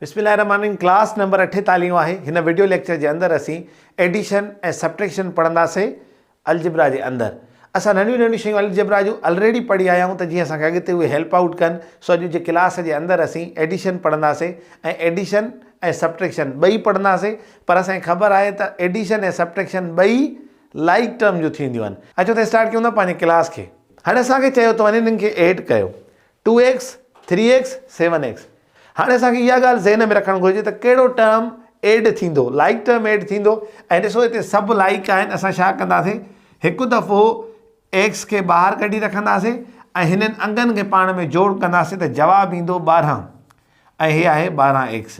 بسم الله الرحمن الرحيم ڪلاس نمبر اٺيتاليهون آهي هن وڊيو ليڪچر جي اندر اسين ايڊيشن ۽ سبٽريڪشن پڙهنداسين الجبرا جي اندر اسان ننڍيون ننڍيون شيون الجبرا جون الريڊي پڙهي آيا آهيون ته جيئن اسان کي اڳتي اهي هيلپ آئوٽ ڪن سو اڄ جي ڪلاس جي اندر اسين ايڊيشن پڙهنداسين ۽ ايڊيشن ۽ سبٽريڪشن ٻئي پڙهنداسين پر اسان کي خبر آهي ته ايڊيشن ۽ سبٽريڪشن ٻئي لائڪ ٽرم جون ٿينديون آهن اچو ته اسٽارٽ ڪيون ٿا پنهنجي ڪلاس کي هاڻي اسان کي چيو ته وڃي هنن کي ايڊ ڪيو two x, three x, seven x. هاڻي اسان کي اها ڳالهه ذهن ۾ رکڻ گهرجي ته ڪهڙو ٽرم ايڊ ٿيندو، لائڪ ٽرم ايڊ ٿيندو ۽ ڏسو هتي سڀ لائڪ آهن اسان ڇا ڪنداسين هڪ دفعو ايڪس کي ٻاهر ڪڍي رکنداسين ۽ هنن انگن کي پاڻ ۾ جوڙ ڪنداسين ته جواب ايندو ٻارهن ۽ هي آهي ٻارهن ايڪس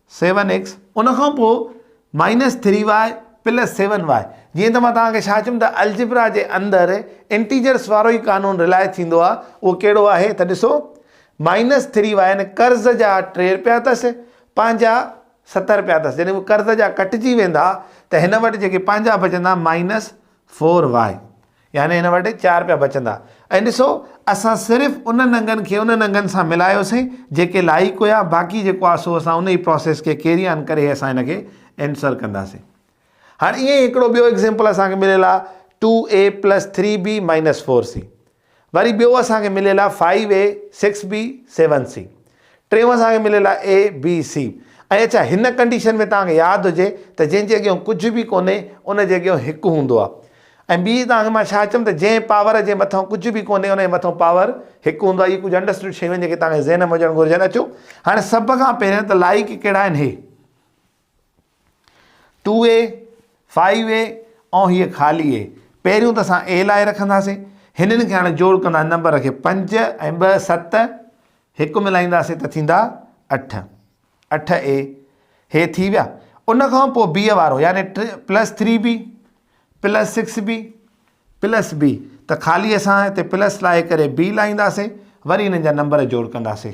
سيون ايڪس ان کان پوء minus three y plus seven y جيئن ته مان توهان کي ڇا چيم ته الجبرا جي اندر انٽيجرس وارو ئي قانون رلاء ٿيندو آهي اهو ڪهڙو آهي ته ڏسو مائنس ٿري وائي يعني قرض جا ٽي رپيا اٿس پنهنجا ست رپيا اٿس جڏهن اهي قرض جا ڪٽجي ويندا ته هن وٽ جيڪي پنهنجا بچندا مائنس فور وائي يعني هن وٽ چار پيا بچندا. ۽ ڏسو، اسان صرف انهن انگن کي انهن انگن سان ملايوسين، جيڪي لائق هيا، باقي جيڪو آهي سو اسان انهي پراسيس کي ڪيري آن ڪري اسان هن کي انسر ڪنداسين. هاڻ ائين ئي هڪڙو ٻيو ايگزيمپل اسان کي مليل آهي two a plus three b minus four c. وري ٻيو اسان کي مليل آهي five a six b seven c. ٽيون اسان کي مليل آهي اي بي سي ۽ اڇا هن ڪنڊيشن ۾ توهان کي ياد هجي ته جنهن جي اڳيون ڪجهه به ڪونهي ان جي اڳيون هڪ هوندو آهي ۽ ٻي توهان کي مان ڇا چيم ته جنهن پاور جي مٿان ڪجهه به ڪونهي ان جي مٿان پاور هڪ هوندو آهي اهي ڪجهه انڊرسٽوڊ شيون جيڪي توهان کي ذهن ۾ هجڻ گهرجن اچو هاڻي سڀ کان پهريان ته لائق ڪهڙا آهن هي ٽو اي، فائيو اي ۽ هيء خالي اي. پهريون ته اسان اي لاء رکنداسين. هنن کي هاڻي جوڙ ڪندا نمبر کي پنج ۽ ٻه ست. هڪ ملائينداسين ته ٿيندا اٺ. اٺ اي. هي ٿي ويا. ان کان پوء بيء وارو يعني ٽي plus three b plus six b plus b ته خالي اسان هتي پلس لائي ڪري بي لائينداسين. وري هنن جا نمبر جوڙ ڪنداسين.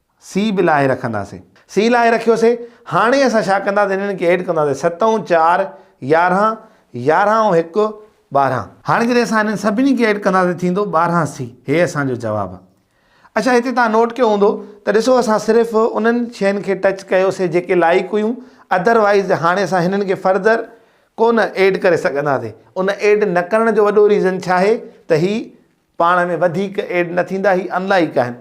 سي به لاهي رکنداسين. سي لاهي رکيوسي. هاڻي اسان ڇا ڪنداسين هنن کي ايڊ ڪنداسين ست ۽ چار يارهن يارهن ۽ هڪ ٻارهن. هاڻي جڏهن اسان هنن سڀني کي ايڊ ڪنداسين ٿيندو ٻارهن سي هي اسان جو جواب آ. اڇا هتي توهان نوٽ ڪيو هوندو ته ڏسو اسان صرف انهن شين کي ٽچ ڪيوسي جيڪي لائق هيون اڌر وائيز هاڻي اسان هنن کي فردر ڪونه ايڊ ڪري سگهنداسين ان ايڊ نه ڪرڻ جو وڏو ريزن ڇا آهي ته هي پاڻ ۾ وڌيڪ ايڊ نه ٿيندا هي ان لائيڪ آهن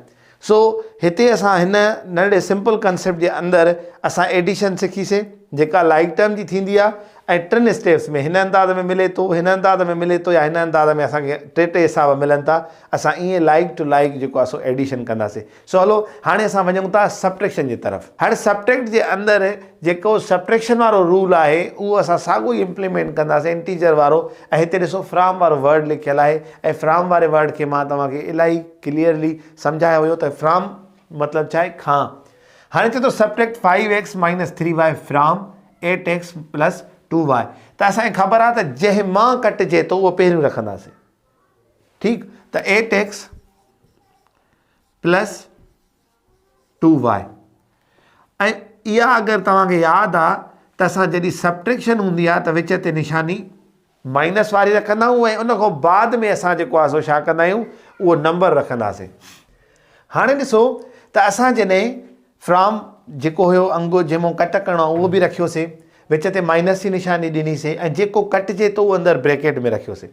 سو هتي اسان هن ننڍڙي سمپل ڪنسيپٽ جي اندر اسان ايڊيشن سکي سين جيڪا لائيڪ ٽرم جي ٿيندي آهي ۽ ٽن اسٽيپس ۾ هن انداز ۾ ملي ٿو هن انداز ۾ ملي ٿو يا هن انداز ۾ اسان کي ٽي ٽي حساب ملن ٿا اسان ايئن لائيڪ ٽو لائيڪ جيڪو آهي سو ايڊيشن ڪنداسين سو هلو هاڻي اسان وڃون ٿا سبٽريڪشن جي طرف. هر سبٽريڪٽ جي اندر جيڪو سبٽريڪشن وارو رول آهي اهو اسان ساڳو ئي امپليمينٽ ڪنداسين انٽيجر وارو ۽ هتي ڏسو فرام وارو ورڊ لکيل آهي ۽ فرام واري ورڊ کي مان توهان کي الاهي ڪليئرلي سمجهايو هيو ته فرام مطلب ڇا آهي کان هاڻي چئي ٿو subtract five x minus three y from eight x plus two y ته اسان کي خبر آهي ته جنهن مان ڪٽجي ٿو اهو پهريون رکنداسين ٺيڪ ته eight x plus two y ۽ اها اگر توهان کي ياد آ ته اسان جڏهن سبٽريڪشن هوندي آ ته وچ تي نشاني مائنس واري رکندا آهيون ۽ ان کان بعد ۾ اسان جيڪو آ سو ڇا ڪندا آهيون اهو نمبر رکنداسين هاڻي ڏسو ته اسان جڏهن فرام جيڪو هيو انگ جنهن مون ڪٽ ڪرڻو آ اهو به رکيوسي وچ تي مائنس جي نشاني ڏنيسي ۽ جيڪو ڪٽجي ٿو اهو اندر بريڪيٽ ۾ رکيوسي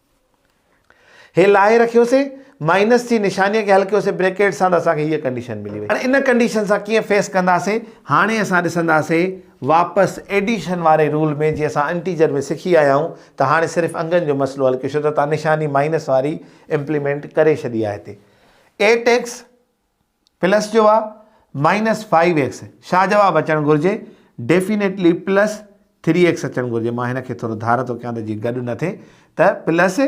هي لاهي رکيوسين مائنس جي نشاني کي حل ڪيوسين بريڪيٽ سان ته اسان کي هيء ڪنڊيشن ملي وئي. هاڻي ان ڪنڊيشن سان ڪيئن فيس ڪنداسين؟ هاڻي اسان ڏسنداسين واپس ايڊيشن واري رول ۾ جيئن اسان انٽيجر ۾ سکي آيا آهيون ته هاڻي صرف انگن جو مسئلو حل ڪيوسين ته تان نشاني مائنس واري امپليمينٽ ڪري ڇڏي آهي هتي ايٽ ايڪس پلس جو آ مائنس فائيو ايڪس شا جواب اچڻ گهرجي ڊيفينيٽلي پلس ٿري ايڪس اچڻ گهرجي مان هن کي ٿورو ڌار ٿو ڪيان ته جي گڏ نه ٿي ته پلس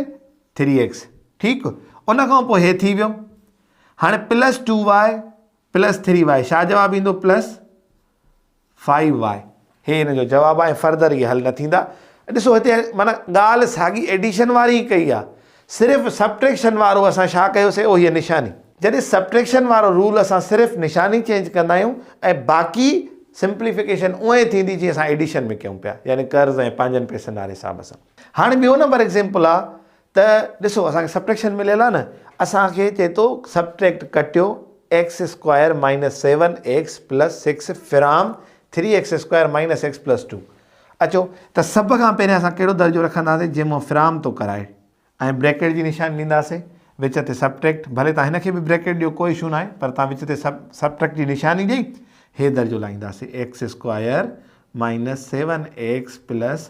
ٿري ايڪس ٺيڪ ان کان پوء هي ٿي ويو هاڻي plus two y plus three y شا جواب ايندو پلس فائيو واء هي هن جو جواب آهي فردر اهي حل نه ٿيندا ڏسو هتي معنيٰ ڳالهه ساڳي ايڊيشن واري ئي ڪئي آهي صرف سبٽريڪشن وارو اسان ڇا ڪيوسي اهو هي نشاني جڏهن سبٽريڪشن وارو رول اسان صرف نشاني چينج ڪندا آهيون ۽ باقي سمپليفڪيشن اونء ئي ٿيندي جيئن اسان ايڊيشن ۾ ڪيون پيا يعني قرض ۽ پنهنجن پئسن واري حساب سان هاڻي ٻيو نمبر ايگزيمپل آهي ته ڏسو اسان کي سبٽريڪشن مليل آهي نه اسان کي چئي ٿو سبٽريڪٽ ڪٽيو x square minus seven x plus six from three x square minus x plus two اچو ته سڀ کان پهرين اسان ڪهڙو درجو رکنداسين جنهن مان فرام ٿو ڪرائي ۽ بريڪيٽ جي نشاني ڏينداسين وچ تي سبٽريڪٽ ڀلي تان هن کي به بريڪيٽ ڏيو ڪو اشو ناهي پر تان وچ تي سب سبٽريڪٽ جي نشاني ڏيئي هي درجو لائينداسين x square minus seven x plus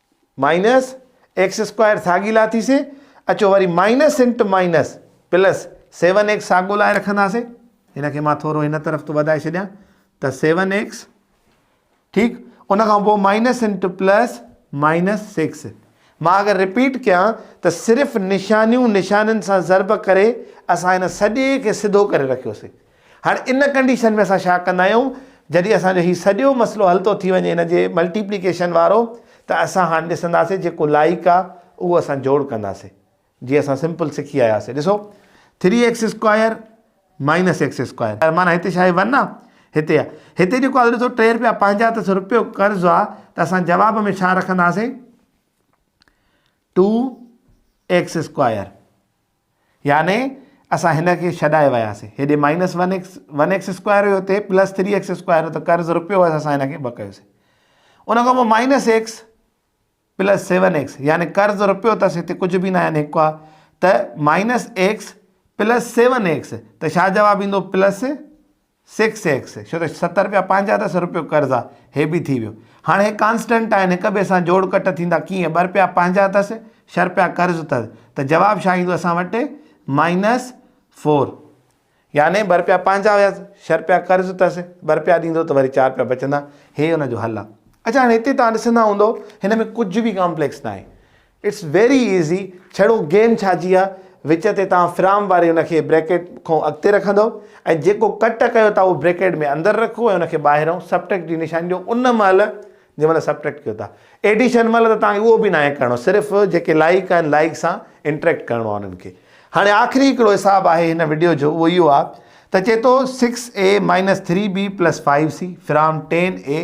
minus x square ساڳي لاتيسي اچو وري مائنس انٽ مائنس پلس سيون ايڪس ساڳو لائي رکنداسي ان کي مان ٿورو هن طرف تو وڌائي ڇڏيان ته سيون ايڪس ٺيڪ ان کان پوء مائنس انٽ پلس مائنس سکس مان اگر رپيٽ ڪيان ته صرف نشانيون نشانين سان ضرب ڪري اسان هن سڄي کي سڌو ڪري رکيوسي هاڻي ان ڪنڊيشن ۾ اسان ڇا ڪندا آهيون جڏهن اسان جو هي سڄو مسئلو حل ٿو ٿي وڃي ان جي ملٽيپليڪيشن وارو ته اسان هاڻ ڏسنداسي جيڪو لائق آهي اهو اسان جوڙ ڪنداسي جي اسان سمپل سکي آياسي ڏسو three x square minus x square مانا هتي ڇا آهي ون آهي هتي آهي هتي جيڪو آهي ڏسو ٽي رپيا پنهنجا اٿس رپيو قرض آهي ته اسان جواب ۾ ڇا رکنداسي ٽو ايڪس اسڪوائر يعني اسان هن کي ڇڏائي وياسين. هيڏي minus one x one x square هيو هتي پلس ٿري ايڪس اسڪوائر هيو ته قرض رپيو هيس اسان هن کي ٻه ڪيوسين. ان کان پوء minus x plus seven x يعني قرض رپيو اٿس هتي ڪجهه به نه آهن هڪ آ ته minus x plus seven x ته ڇا جواب ايندو پلس سيڪس ايڪس ڇو ته ست رپيا پنهنجا ته سو رپيو قرض آ هي به ٿي ويو هاڻ هي ڪانسٽنٽ آهن هڪ ٻئي سان جوڙ ڪٽ ٿيندا ڪيئن ٻه رپيا پنهنجا اٿس ڇهه رپيا قرض اٿس ته جواب ڇا ايندو اسان وٽ مائنس فور يعني ٻه رپيا پنهنجا هيا ڇهه رپيا قرض اٿس ٻه رپيا ڏيندو ته وري چار رپيا بچندا هي ان جو حل آ اچا هاڻ هتي تان ڏسندا هوندو هن ۾ ڪجهه به ڪامپليڪس ناهي اٽس ويري ايزي ڇڙو گيم ڇا جي آ وچ تي توهان فرام واري ان کي بريڪيٽ کون اڳتي رکندؤ ۽ جيڪو ڪٽ ڪيو ٿا اهو بريڪيٽ ۾ اندر رکو ۽ ان کي ٻاهرئون سبٽريڪٽ جي نشاني ڏيو ان مهل جنهن مهل سبٽريڪٽ ڪيو ٿا ايڊيشن مهل ته توهان کي اهو به ناهي ڪرڻو صرف جيڪي لائيڪ آهن لائيڪ سان انٽريڪٽ ڪرڻو آهي انهن کي هاڻي آخري هڪڙو حساب آهي هن وڊيو جو اهو اهو آهي ته چئي ٿو six a minus three b plus five c from ten a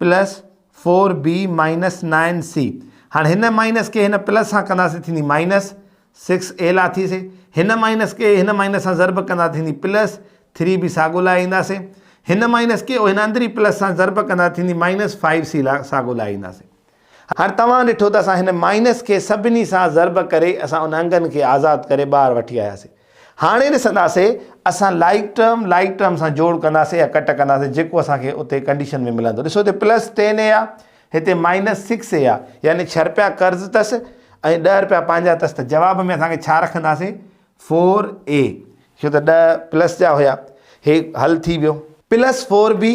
plus four b minus nine c هاڻي هن مائنس کي هن پلس سان ڪنداسي ٿيندي مائنس سڪس اي لا ٿي سي هن مائنس کي هن مائنس سان ضرب ڪندا ٿيندي پلس ٿري بي ساڳو لاء اينداسي هن مائنس کي هن اندري پلس سان ضرب ڪندا ٿيندي مائنس فائيو سي لا ساڳو لاء اينداسي هاڻي توهان ڏٺو ته اسان هن مائنس کي سڀني سان ضرب ڪري اسان ان انگن کي آزاد ڪري ٻاهر وٺي آياسي. هاڻي ڏسنداسي اسان لائڪ ٽرم لائڪ ٽرم سان جوڙ ڪنداسي يا ڪٽ ڪنداسي جيڪو اسان کي اتي ڪنڊيشن ۾ ملندو. ڏسو هتي پلس ٽين اي آ هتي مائنس سڪس اي آ يعني ڇهه رپيا قرض تس ۽ ڏهه رپيا پنهنجا تس ته جواب ۾ اسان کي ڇا رکنداسي فور اي ڇو ته ڏهه پلس جا هيا هي حل ٿي ويو. پلس فور بي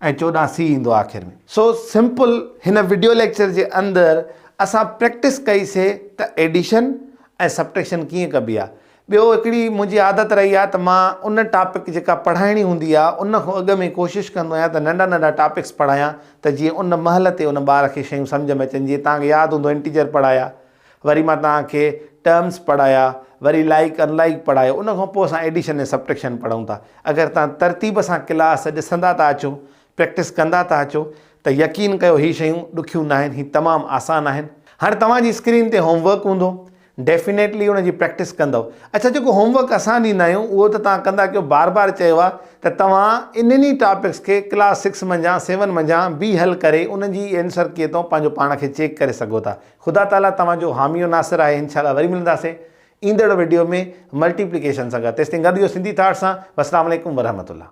۽ چوڏهن سي ايندو آخر ۾. سو سمپل هن وڊيو ليڪچر جي اندر اسان پريڪٽس ڪئي سي ته ايڊيشن ۽ سبٽريڪشن ڪيئن ڪبي آ. ٻيو هڪڙي منهنجي عادت رهي آ ته مان ان ٽاپڪ جيڪا پڙهائڻي هوندي آ ان کان اڳ ۾ ڪوشش ڪندو آهيان ته ننڍا ننڍا ٽاپڪس پڙهايان ته جيئن ان مهل تي ان ٻار کي شيون سمجهه ۾ اچن جيئن توهان کي ياد هوندو انٽيجر پڙهايا وري مان توهان کي ٽرمز پڙهايا، وري لائيڪ ان لائيڪ پڙهايو، ان کان پوء اسان ايڊيشن ۽ سبٽريڪشن پڙهون ٿا. اگر توهان ترتيب سان ڪلاس ڏسندا ٿا اچو، پريڪٽس ڪندا ٿا اچو ته يقين ڪيو هي شيون ڏکيون ناهن، هي تمام آسان آهن. هاڻ توهان جي اسڪرين تي هوم ورڪ هوندو، ڊيفينيٽلي ان جي پريڪٽس ڪندؤ. اڇا جيڪو هوم ورڪ اسان ڏيندا آهيون اهو ته توهان ڪندا ڪيو، بار بار چيو آهي ته توهان انهن ئي ٽاپڪس کي ڪلاس سڪس منجهان سيون منجهان به حل ڪري انهن جي ئي اينسر ڪيئن ٿو پنهنجو پاڻ کي چيڪ ڪري سگهو ٿا. خدا تعالي توهان جو حامي و ناصر آهي انشاء الله وري ملنداسين ايندڙ وڊيو ۾ ملٽي پليڪيشن سان گڏ تيستائين گڏ هجو سنڌي ٿاٽ سان والسلام عليڪم ورحمة الله.